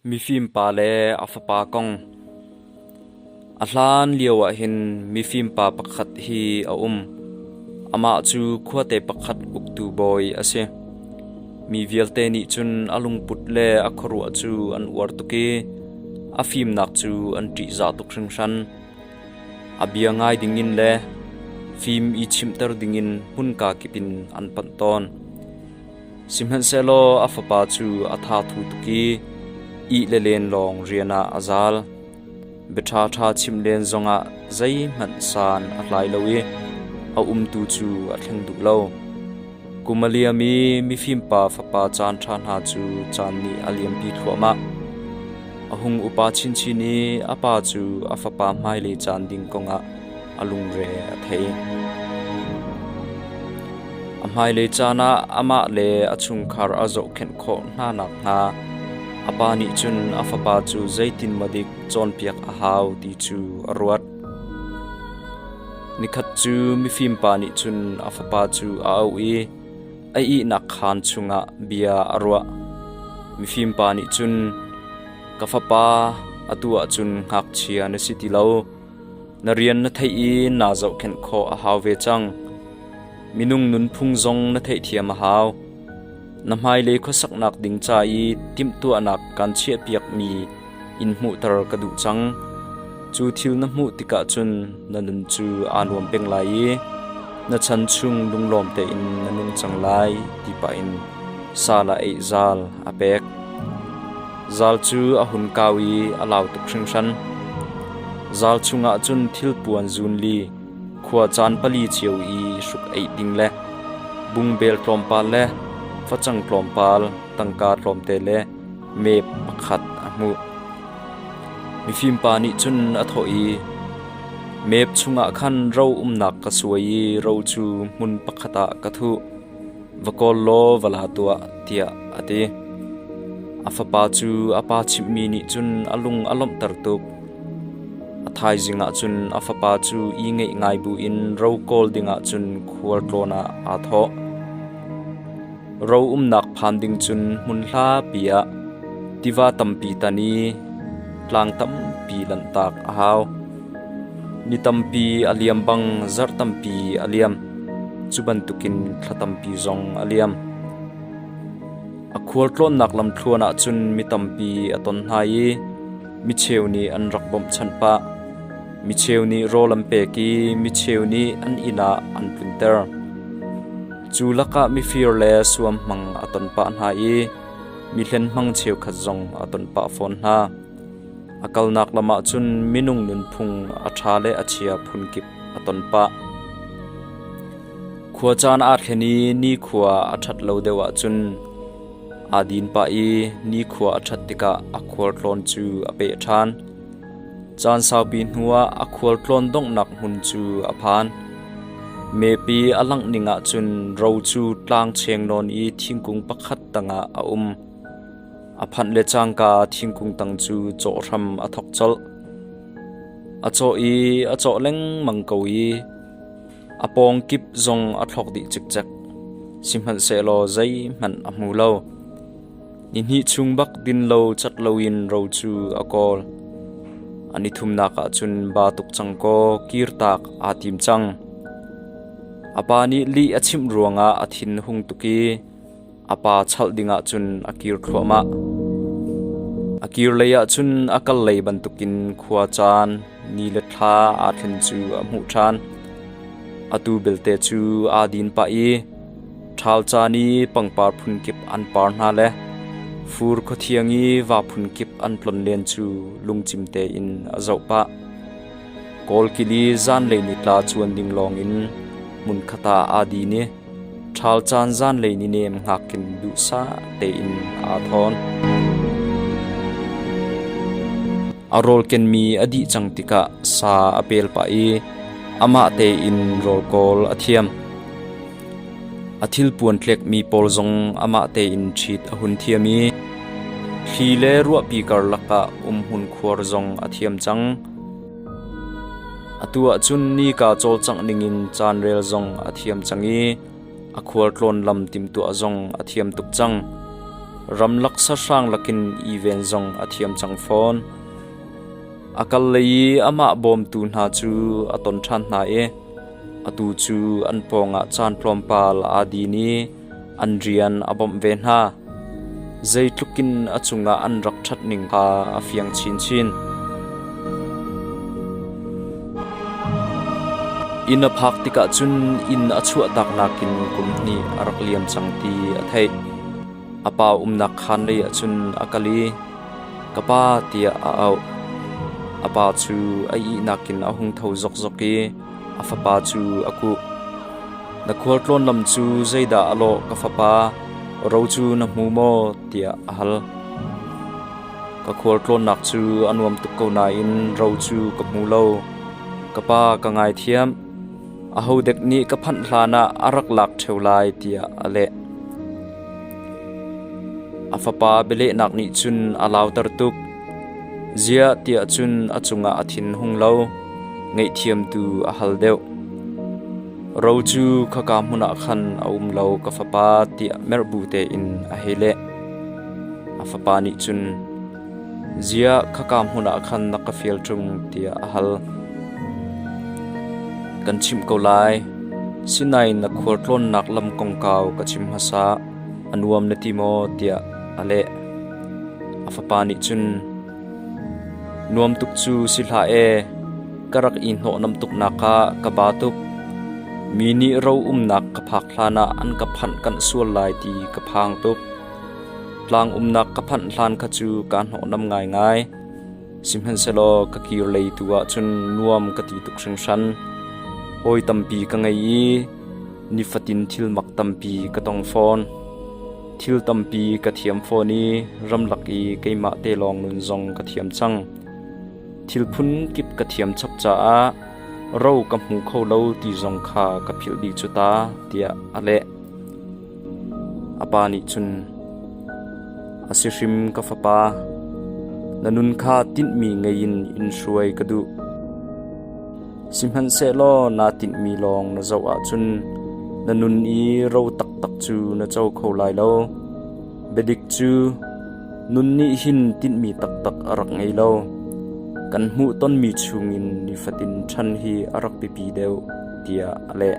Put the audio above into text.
Mifimpa le a fapa kong A hlan lioah hin mifimpa pakhat hi a um. Amah cu khuate pakhat uktu bawi a si. Mi vialte nih cun a lungput le a khuaruah cu an uar tuk i a fimnak cu an ṭihzah tuk hringhran. A bia ngai dingin le fim i chimhter dingin hmunka kip in an panh tawn. Sihmanhsehlaw a fapa cu a tha thu tuk i ih le len lawng rian ah a zal. Bia ṭhaṭha chim len zongah zeihmanh san a hlai lo i a umtu cu a thleng duh lo. Kum a liam i mifimpa fapa caan ṭha hna cu caan nih a liampi thluahmah. A hung upa chinchin i a pa cu a fapa hmailei caan ding kongah a lungre a thei. A hmailei caan ah amah le a chungkhar a zohkhenh khawh hna nakhnga a pa nih cun a fapa cu zeitin maw dik cawnpiak a hau ti cu a ruat. Nikhat cu mifim pa nih cun a fapa cu a auh i a ihnak khaan chungah bia a ruah. Mifim pa nih cun, Ka fapa, atu ah cun ngakchia na si ti lo. Na rian na theih i naa zohkhenh khawh a hau ve cang. Minung nunphung zong na theihthiam a hau. Na hmailei khuasaknak ding ca i timhtuahnak kaan chiahpiakmi in hmuhter ka duh cang. Cu thil na hmuh tikah cun na nun cu aa nuam peng lai i na chan chung lunglawm tein na nung cang lai ti pah in sa le eih zal a pek. Zal cu a hun kau i a lau tuk hringhran. Zal chungah cun thilpuan zun li, khua caan pali cio i hruk eih ding le bungbel tlawmpal le facang tlawmpal tangka tlawmte le mep pakhat a hmuh. Mifimpa nih cun a thawh i, “Mep chungah khan ro umnak ka suai i ro cu hmun pakhat ah ka thuh. Va kawl law va la tuah, tiah a ti. A fapa cu a pa chimhmi nih cun a lung a lawmhter tuk. A thaizing ah cun a fapa cu i ngeih ngai buin ro kawl dingah cun khual tlawn ah aa thawh. Ro umnak phan ding cun hmun hlapi ah tiva tampi tan i tlang tampi lanhtak a hau. Ni tampi a liam bang zarh tampi a liam. Cu bantukin thla tampi zong a liam. A khualtlawnnak lamthluan ah cun mi tampi a ton hna i micheu nih an rak bawmhchanh pah. Micheu nih rawl an pek i micheu nih an inn ah an tlunter. Cu lakah mifir le suam hmang a ton pah hna i mi hlen hmang cheukhat zong a ton pah fawn hna. A kalnak lam ah cun minung nunphung a ṭha le a chia phunkip a ton pah. Khua caan aa thlen i nikhua a ṭhat lo deuh ahcun aa din pah i nikhua a ṭhat tikah a khualtlawn cu a peh ṭhan. Caan saupi hnuah a khualtlawn donghnak hmun cu a phan. Mepi a langh ning ahcun ro cu tlang cheng nawn i thingkung pakhat tangah a um. A phanh le cangka thingkung tang cu cawh hram a thok colh. A cawh i a cawh lengmang ko i a pawng kip zong a thlawk dih cikcek. Sihmanhsehlaw zeihmanh a hmu lo. Ni hnih chung bak din lo cat loin ro cu a kawl. An i thumnak ah cun ba tuk cang kaw kirtak aa tim cang. A pa nih lih a chimh ruangah a thin hung tuk i A pa chalh dingah cun a kir thluahmah. A kir leiah cun a kal lei bantukin khua caan ni le thla aa thlen cu a hmuh ṭhan. Atu belte cu aa din pah i ṭhal caan i pangpar phun kip an par hna le fur khuathiang i va phun kip an tlon len cu lungcim tein a zoh pah. Kawlkili zanlei ni tla cuan ding lawngin hmun khat ah aa din i Ṭhal caan zanlei ni nem hngakkin duhsah tein aa thawn. A rawl kenmi a dih cang tikah sa a pel pah i amah tein rawl kawl a thiam. A thil puantlekmi pawl zong amah tein ṭhit a hun thiam i thli le ruahpi karlak ah umhmun khuar zong a thiam cang. Atu ah cun nika cawlcangh ningin caan rel zong a thiam cang i a khualtlawn lam timtuah zong a thiam tuk cang. Ramlak sahrang lakin iven zong a thiam cang fawn. A kal le i amah bawmtu hna cu a ton ṭhan hna i atu cu an pawngah caan tlawmpal aa din i An rian a bawmh ve hna, zeitlukin a cungah an rak ṭhat ning kha a fiang chinchin. Inn a phak tikah cun inn a chuahtak nakin kum hnih a rak liam cang ti a theih. A pa umnak khaanlei ah cun a kal i, “Ka pa,” tiah a auh. A pa cu a ihnak in a hung tho zokzok i A fapa cu a kuh. Na khualtlawn lam cu zeidah a lawh, ka fapa? Ro cu na hmu maw? tiah a hal. Ka khualtlawnnak cu a nuam tuk ko nain ro cu ka hmu lo. Ka pa ka ngaithiam. Ahodek nih ka phanh hlanah a rak lak ṭheo lai tiah a leh. A fapa bialehnak nih cun a lauter tuk. Ziah tiah cun a cungah a thinhung lo, ngaihthiamtu a hal deuh. Ro cu khaka hmun ah khan a um lo, ka fapa, tiah merh bu tein a hei leh. A fapa nih cun, Ziah khaka hmun ah khan na ka fial ṭung, tiah a hal. Kan chimh ko lai, Sinai na khualtlawnnak lam kongkau ka chim hmasa. A nuam na ti maw? tiah a leh. A fapa nih cun, Nuam tuk cu si hlah ee, ka rak i hnawhnam tuknak kha ka ba tuk. Mi nih ro umnak ka phak hlanah an ka phanh kanh sual lai ti ka phang tuk. Tlang umnak ka phanh hlan kha cu kaa hnawhnam ngaingai. Sihmanhsehlaw ka kir lei tu ah cun nuam ka ti tuk hringhran. Hawi tampi ka ngei i nifatin thilmak tampi ka tong fawn. Thil tampi ka thiam fawn i ramlak i keimah te lawng nun zong ka thiam cang. Thil phun kip ka thiam chap caah ro ka hmu kho lo ti zong kha ka philh dih cu ta, tiah a leh. A pa nih cun, A si hrim ka fapa, na nun kha tinhmi ngei in in hruai ka duh. Sihmanhsehlaw naa tinhmi lawng na zoh ahcun na nun i ro taktak cu na co kho lai lo. Biadik cu nun nih hin tinhmi taktak a rak ngei lo. Kan hmuh tonmi chungin nifatin ṭhan hi a rak biapi deuh, tiah a leh.